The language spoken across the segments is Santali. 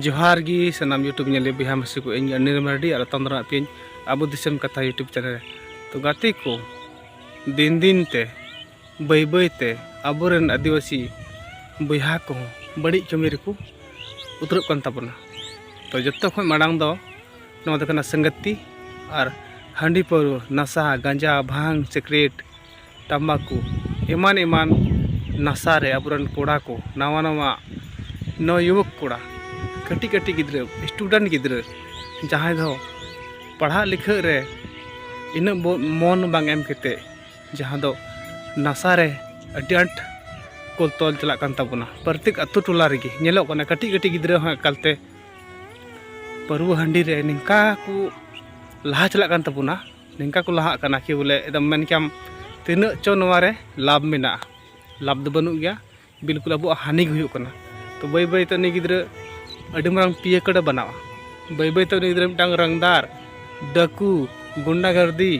ᱡᱚᱦᱟᱨ ᱜᱮ ᱥᱟᱱᱟᱢ ᱤᱭᱩᱴᱩᱵᱽ ᱧᱮᱞ ᱵᱚᱭᱦᱟ ᱢᱟᱹᱥᱤ ᱠᱚ ᱤᱧ ᱚᱱᱤᱨ ᱢᱟᱨᱰᱤ ᱟᱨ ᱟᱛᱟᱢ ᱫᱟᱨᱟᱜ ᱯᱤᱧ ᱟᱵᱚ ᱫᱤᱥᱚᱢ ᱠᱟᱛᱷᱟ ᱤᱭᱩᱴᱩᱵᱽ ᱪᱮᱱᱮᱞ ᱨᱮ ᱛᱚ ᱜᱟᱛᱮ ᱠᱚ ᱫᱤᱱ ᱫᱤᱱ ᱛᱮ ᱵᱟᱹᱭ ᱵᱟᱹᱭ ᱛᱮ ᱟᱵᱚᱨᱮᱱ ᱟᱹᱫᱤᱵᱟᱹᱥᱤ ᱵᱚᱭᱦᱟ ᱠᱚᱦᱚᱸ ᱵᱟᱹᱲᱤᱡ ᱠᱟᱹᱢᱤ ᱨᱮᱠᱚ ᱩᱛᱟᱹᱨᱚᱜ ᱠᱟᱱ ᱛᱟᱵᱚᱱᱟ ᱛᱚ ᱡᱚᱛᱚ ᱠᱷᱚᱱ ᱢᱟᱲᱟᱝ ᱫᱚ ᱱᱚᱣᱟ ᱫᱚ ᱠᱟᱱᱟ ᱥᱟᱸᱜᱟᱛᱤ ᱟᱨ ᱦᱟᱺᱰᱤ ᱯᱟᱹᱣᱨᱟᱹ ᱱᱟᱥᱟ ᱜᱟᱸᱡᱟ ᱵᱷᱟᱝ ᱥᱤᱠᱨᱮᱴ ᱛᱟᱢᱵᱟᱠᱩ ᱮᱢᱟᱱ ᱮᱢᱟᱱ ᱱᱟᱥᱟ ᱨᱮ ᱟᱵᱚ ᱨᱮᱱ ᱠᱚᱲᱟ ᱠᱚ ᱱᱟᱣᱟ ᱱᱟᱣᱟ ᱱᱚᱣ ᱡᱩᱣᱟᱹᱠ ᱠᱚᱲᱟ ᱠᱟᱹᱴᱤᱡ ᱠᱟᱹᱴᱤᱡ ᱜᱤᱫᱽᱨᱟᱹ ᱥᱴᱩᱰᱮᱱᱴ ᱜᱤᱫᱽᱨᱟᱹ ᱡᱟᱦᱟᱸᱭ ᱫᱚ ᱯᱟᱲᱦᱟᱜ ᱞᱤᱠᱷᱟᱹᱜ ᱨᱮ ᱤᱱᱟᱹᱜ ᱢᱚᱱ ᱵᱟᱝ ᱮᱢ ᱠᱟᱛᱮᱫ ᱡᱟᱦᱟᱸ ᱫᱚ ᱱᱟᱥᱟ ᱨᱮ ᱟᱹᱰᱤ ᱟᱸᱴ ᱠᱚ ᱛᱚᱞ ᱪᱟᱞᱟᱜ ᱠᱟᱱ ᱛᱟᱵᱚᱱᱟ ᱯᱨᱚᱛᱮᱠ ᱟᱹᱛᱩ ᱴᱚᱞᱟ ᱨᱮᱜᱮ ᱧᱮᱞᱚᱜ ᱠᱟᱱᱟ ᱠᱟᱹᱴᱤᱡ ᱠᱟᱹᱴᱤᱡ ᱜᱤᱫᱽᱨᱟᱹ ᱦᱚᱸ ᱮᱠᱟᱞ ᱛᱮ ᱯᱟᱹᱨᱣᱟᱹ ᱦᱟᱺᱰᱤ ᱨᱮ ᱱᱤᱝᱠᱟ ᱠᱚ ᱞᱟᱦᱟ ᱪᱟᱞᱟᱜ ᱠᱟᱱ ᱛᱟᱵᱚᱱᱟ ᱱᱤᱝᱠᱟ ᱠᱚ ᱞᱟᱦᱟᱜ ᱠᱟᱱᱟ ᱠᱤ ᱵᱚᱞᱮ ᱮᱠᱫᱚᱢ ᱢᱮᱱ ᱠᱮᱭᱟᱢ ᱛᱤᱱᱟᱹᱜ ᱪᱚ ᱱᱚᱣᱟ ᱨᱮ ᱞᱟᱵᱷ ᱢᱮᱱᱟᱜᱼᱟ ᱞᱟᱵᱷ ᱫᱚ ᱵᱟᱹᱱᱩᱜ ᱜᱮᱭᱟ ᱵᱤᱞᱠᱩᱞ ᱟᱵᱚᱣᱟᱜ ᱦᱟᱹᱱᱤ ᱜᱮ ᱦᱩᱭᱩᱜ ᱠᱟᱱᱟ ᱛᱚ ᱵᱟᱹᱭ ᱵᱟᱹᱭ ᱛᱮ ᱩᱱᱤ ᱜᱤᱫᱽᱨᱟᱹ ᱟᱹᱰᱤ ᱢᱟᱨᱟᱝ ᱯᱤᱭᱮ ᱠᱟᱹᱰᱮ ᱵᱮᱱᱟᱣᱟ ᱵᱟᱹᱭ ᱵᱟᱹᱭ ᱛᱮ ᱩᱱᱤ ᱜᱤᱫᱽᱨᱟᱹ ᱢᱤᱫᱴᱟᱝ ᱨᱟᱝᱫᱟᱨ ᱰᱟᱹᱠᱩ ᱜᱩᱱᱰᱟ ᱜᱟᱨᱫᱤ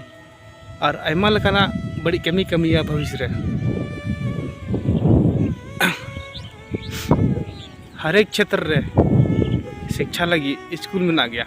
ᱟᱨ ᱟᱭᱢᱟ ᱞᱮᱠᱟᱱᱟᱜ ᱵᱟᱹᱲᱤᱡ ᱠᱟᱹᱢᱤ ᱠᱟᱹᱢᱤᱭᱟ ᱵᱷᱚᱵᱤᱥ ᱨᱮ ᱦᱟᱨᱮᱠ ᱪᱷᱮᱛᱨᱚ ᱨᱮ ᱥᱤᱠᱪᱷᱟ ᱞᱟᱹᱜᱤᱫ ᱥᱠᱩᱞ ᱢᱮᱱᱟᱜ ᱜᱮᱭᱟ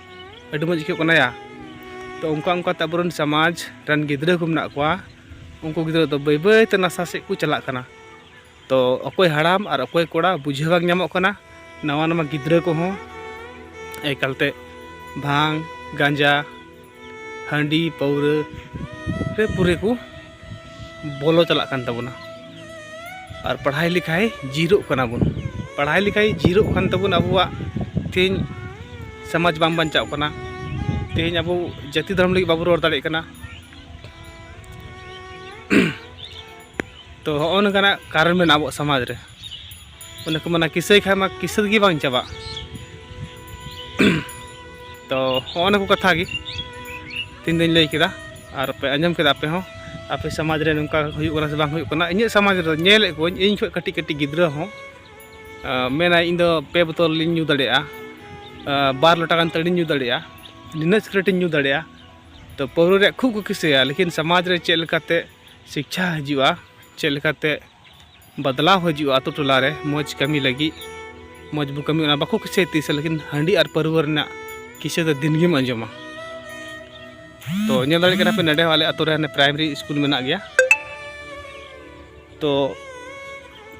ᱟᱹᱰᱤ ᱢᱚᱡᱽ ᱟᱹᱭᱠᱟᱹᱜ ᱠᱟᱱᱟ ᱭᱟ ᱛᱚ ᱚᱱᱠᱟ ᱚᱱᱠᱟᱛᱮ ᱟᱵᱚᱨᱮᱱ ᱥᱚᱢᱟᱡᱽ ᱨᱮᱱ ᱜᱤᱫᱽᱨᱟᱹ ᱠᱚ ᱢᱮᱱᱟᱜ ᱠᱚᱣᱟ ᱩᱱᱠᱩ ᱜᱤᱫᱽᱨᱟᱹ ᱫᱚ ᱵᱟᱹᱭ ᱵᱟᱹᱭᱛᱮ ᱱᱟᱥᱟ ᱥᱮᱫ ᱠᱚ ᱪᱟᱞᱟᱜ ᱠᱟᱱᱟ ᱛᱚ ᱚᱠᱚᱭ ᱦᱟᱲᱟᱢ ᱟᱨ ᱚᱠᱚᱭ ᱠᱚᱲᱟ ᱵᱩᱡᱷᱟᱹᱣ ᱵᱟᱝ ᱧᱟᱢᱚᱜ ᱠᱟᱱᱟ ᱱᱟᱣᱟ ᱱᱟᱣᱟ ᱜᱤᱫᱽᱨᱟᱹ ᱠᱚᱦᱚᱸ ᱮᱠᱟᱞᱛᱮ ᱵᱷᱟᱝ ᱜᱟᱸᱡᱟ ᱦᱟᱺᱰᱤ ᱯᱟᱹᱣᱨᱟᱹ ᱨᱮ ᱯᱩᱨᱟᱹ ᱠᱚ ᱵᱚᱞᱚ ᱪᱟᱞᱟᱜ ᱠᱟᱱ ᱛᱟᱵᱚᱱᱟ ᱟᱨ ᱯᱟᱲᱦᱟᱣ ᱞᱮᱠᱷᱟᱭ ᱡᱤᱨᱚᱜ ᱠᱟᱱᱟ ᱵᱚᱱ ᱯᱟᱲᱦᱟᱣ ᱞᱮᱠᱷᱟᱭ ᱡᱤᱨᱚᱜ ᱠᱟᱱ ᱛᱟᱵᱚᱱ ᱟᱵᱚᱣᱟᱜ ᱛᱮᱦᱮᱧ ᱥᱚᱢᱟᱡᱽ ᱵᱟᱝ ᱵᱟᱧᱪᱟᱜ ᱠᱟᱱᱟ ᱛᱮᱦᱮᱧ ᱟᱵᱚ ᱡᱟᱹᱛᱤ ᱫᱷᱚᱨᱚᱢ ᱞᱟᱹᱜᱤᱫ ᱵᱟᱵᱚ ᱨᱚᱲ ᱫᱟᱲᱮᱭᱟᱜ ᱠᱟᱱᱟ ᱛᱚ ᱦᱚᱜᱼᱚ ᱱᱚᱝᱠᱟᱱᱟᱜ ᱠᱟᱨᱚᱱ ᱢᱮᱱᱟᱜᱼᱟ ᱟᱵᱚᱣᱟᱜ ᱥᱚᱢᱟᱡᱽ ᱨᱮ ᱚᱱᱮ ᱠᱚ ᱢᱮᱱᱟ ᱠᱤᱥᱟᱹᱭ ᱠᱷᱟᱡ ᱢᱟ ᱠᱤᱥᱟᱹ ᱜᱮ ᱵᱟᱝ ᱪᱟᱵᱟᱜ ᱛᱚ ᱦᱚᱸᱜᱼᱚ ᱱᱟ ᱠᱚ ᱠᱟᱛᱷᱟ ᱜᱮ ᱛᱤᱱ ᱫᱚᱧ ᱞᱟᱹᱭ ᱠᱮᱫᱟ ᱟᱨ ᱯᱮ ᱟᱸᱡᱚᱢ ᱠᱮᱫᱟ ᱟᱯᱮ ᱦᱚᱸ ᱟᱯᱮ ᱥᱚᱢᱟᱡᱽ ᱨᱮ ᱱᱚᱝᱠᱟ ᱦᱩᱭᱩᱜ ᱠᱟᱱᱟ ᱥᱮ ᱵᱟᱝ ᱦᱩᱭᱩᱜ ᱠᱟᱱᱟ ᱤᱧᱟᱹᱜ ᱥᱚᱢᱟᱡᱽ ᱨᱮᱫᱚ ᱧᱮᱞᱮᱫ ᱠᱚᱣᱟᱹᱧ ᱤᱧ ᱠᱷᱚᱡ ᱠᱟᱹᱴᱤᱡ ᱠᱟᱹᱴᱤᱡ ᱜᱤᱫᱽᱨᱟᱹ ᱦᱚᱸ ᱢᱮᱱᱟᱭ ᱤᱧ ᱫᱚ ᱯᱮ ᱵᱳᱛᱚᱞ ᱞᱤᱧ ᱧᱩ ᱫᱟᱲᱮᱭᱟᱜᱼᱟ ᱵᱟᱨ ᱞᱚᱴᱟ ᱜᱟᱱ ᱛᱟᱹᱲᱤᱧ ᱧᱩ ᱫᱟᱲᱮᱭᱟᱜᱼᱟ ᱱᱤᱱᱟᱹᱜ ᱥᱤᱠᱨᱮᱴ ᱤᱧ ᱧᱩ ᱫᱟᱲᱮᱭᱟᱜᱼᱟ ᱛᱚ ᱯᱟᱹᱣᱨᱟᱹ ᱨᱮᱭᱟᱜ ᱠᱷᱩᱵ ᱠᱚ ᱠᱤᱥᱟᱹᱭᱟ ᱞᱮᱠᱤᱱ ᱥᱚᱢᱟᱡᱽ ᱨᱮ ᱪᱮᱫ ᱞᱮᱠᱟᱛᱮ ᱥᱤᱠᱪᱷᱟ ᱦᱤᱡᱩᱜᱼᱟ ᱪᱮᱫ ᱞᱮᱠᱟᱛᱮ ᱵᱟᱫᱞᱟᱣ ᱦᱤᱡᱩᱜᱼᱟ ᱟᱛᱳ ᱴᱚᱞᱟ ᱨᱮ ᱢᱚᱡᱽ ᱠᱟᱹᱢᱤ ᱞᱟᱹᱜᱤᱫ ᱢᱚᱡᱽ ᱵᱚ ᱠᱟᱹᱢᱤ ᱚᱱᱟ ᱵᱟᱠᱚ ᱠᱤᱥᱟᱹᱭ ᱛᱤᱥ ᱞᱮᱠᱤᱱ ᱦᱟᱺᱰᱤ ᱟᱨ ᱯᱟᱹᱨᱣᱟᱹ ᱨᱮᱱᱟᱜ ᱠᱤᱥᱟᱹ ᱫᱚ ᱫᱤᱱ ᱜᱮᱢ ᱟᱸᱡᱚᱢᱟ ᱛᱚ ᱧᱮᱞ ᱫᱟᱲᱮᱭᱟᱜ ᱠᱟᱱᱟ ᱯᱮ ᱱᱚᱰᱮ ᱦᱚᱸ ᱟᱞᱮ ᱟᱛᱳ ᱨᱮ ᱦᱟᱱᱮ ᱯᱨᱟᱭᱢᱟᱨᱤ ᱥᱠᱩᱞ ᱢᱮᱱᱟᱜ ᱜᱮᱭᱟ ᱛᱚ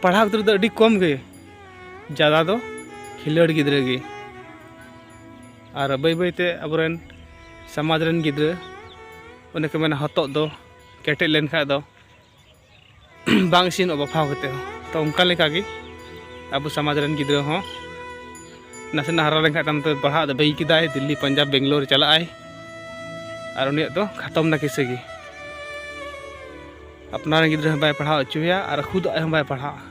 ᱯᱟᱲᱦᱟᱣ ᱜᱤᱫᱽᱨᱟᱹ ᱫᱚ ᱟᱹᱰᱤ ᱠᱚᱢ ᱜᱮ ᱡᱟᱫᱟ ᱫᱚ ᱠᱷᱤᱞᱟᱹᱲ ᱜᱤᱫᱽᱨᱟᱹ ᱜᱮ ᱟᱨ ᱵᱟᱹᱭ ᱵᱟᱹᱭ ᱛᱮ ᱟᱵᱚᱨᱮᱱ ᱥᱚᱢᱟᱡᱽ ᱨᱮᱱ ᱜᱤᱫᱽᱨᱟᱹ ᱚᱱᱮ ᱠᱚ ᱢᱮᱱᱟ ᱦᱚᱛᱚᱫ ᱫᱚ ᱠᱮᱴᱮᱡ ᱞᱮᱱᱠᱷᱟᱡ ᱫᱚ ᱵᱟᱝ ᱤᱥᱤᱱᱚᱜ ᱵᱟᱯᱷᱟᱣ ᱠᱟᱛᱮ ᱦᱚᱸ ᱛᱚ ᱚᱱᱠᱟ ᱞᱮᱠᱟᱜᱮ ᱟᱵᱚ ᱥᱚᱢᱟᱡᱽ ᱨᱮᱱ ᱜᱤᱫᱽᱨᱟᱹ ᱦᱚᱸ ᱱᱟᱥᱮᱱᱟᱜ ᱦᱟᱨᱟ ᱞᱮᱱᱠᱷᱟᱱ ᱛᱟᱭᱚᱢ ᱛᱮ ᱯᱟᱲᱦᱟᱜ ᱫᱚ ᱵᱟᱹᱜᱤ ᱠᱮᱫᱟᱭ ᱫᱤᱞᱞᱤ ᱯᱟᱧᱡᱟᱵᱽ ᱵᱮᱝᱜᱞᱳᱨ ᱪᱟᱞᱟᱜ ᱟᱭ ᱟᱨ ᱩᱱᱤᱭᱟᱜ ᱫᱚ ᱠᱷᱟᱛᱚᱢ ᱱᱟ ᱠᱤᱥᱟᱹ ᱜᱮ ᱟᱯᱱᱟᱨ ᱨᱮᱱ ᱜᱤᱫᱽᱨᱟᱹ ᱦᱚᱸ ᱵᱟᱭ ᱯᱟᱲᱦᱟᱣ ᱦᱚᱪᱚᱭᱟ ᱟᱨ ᱠᱷᱩᱫ ᱟᱡ ᱦᱚᱸ ᱵᱟᱭ ᱯᱟᱲᱦᱟᱜᱼᱟ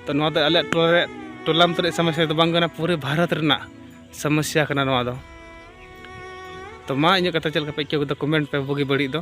ᱛᱚ ᱱᱚᱣᱟ ᱫᱚ ᱟᱞᱮᱭᱟᱜ ᱴᱚᱞᱟ ᱨᱮ ᱴᱚᱞᱟᱢ ᱛᱮ ᱥᱚᱢᱚᱥᱥᱟ ᱫᱚ ᱵᱟᱝ ᱠᱟᱱᱟ ᱯᱩᱨᱟᱹ ᱵᱷᱟᱨᱚᱛ ᱨᱮᱱᱟᱜ ᱥᱚᱢᱚᱥᱥᱟ ᱠᱟᱱᱟ ᱱᱚᱣᱟ ᱫᱚ ᱛᱚ ᱢᱟ ᱤᱧᱟᱹᱜ ᱠᱟᱛᱷᱟ ᱪᱮᱫ ᱞᱮᱠᱟ ᱯᱮ ᱟᱹᱭᱠᱟᱹᱣ ᱠᱮᱫᱟ ᱠᱚᱢᱮᱱᱴ ᱯᱮ ᱵᱩᱜᱤ ᱵᱟᱹᱲᱤᱡ ᱫᱚ